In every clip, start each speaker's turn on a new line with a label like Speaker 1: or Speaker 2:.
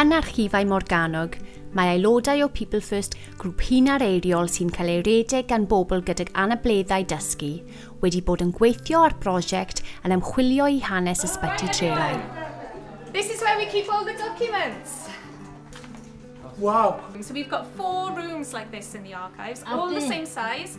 Speaker 1: Yn archifau Morgannwg, mae aelodau o People First, grŵp hunar eiriol sy'n cael ei redeg gan bobl gydag anableddau dysgu, wedi bod yn gweithio ar brosiect yn ymchwilio i hanes ysbyty Trelai. This is
Speaker 2: where we keep all the documents.
Speaker 3: Wow. So we've
Speaker 2: got four rooms like this in the archives, all the same size.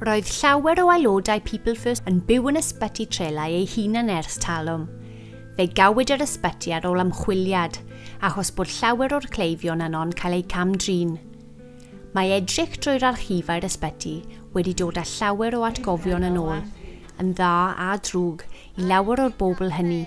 Speaker 1: Roedd llawer o aelodau People First yn byw yn ysbyty trelau ei hunan ers talwm. Fe gawyd yr ysbyty ar ôl ymchwiliad, achos bod llawer o'r cleifion yno'n cael eu cam-drin. Mae edrych drwy'r archifau'r ysbyty wedi dod â llawer o atgofion yn ôl, yn dda a drwg, i lawer o'r bobl hynny.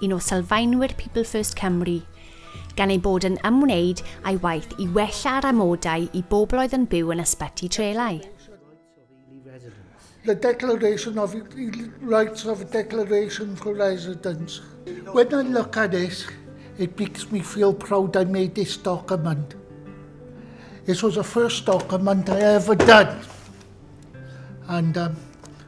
Speaker 1: un o sylfaenwyr People First Cymru, gan ei bod yn ymwneud â'i waith i wella'r amodau i bobl oedd yn byw yn ysbyty trelau.
Speaker 3: The Declaration of Rights of Declaration for Residents. When I look at this, it makes me feel proud I made this document. This was the first document I ever done. And um,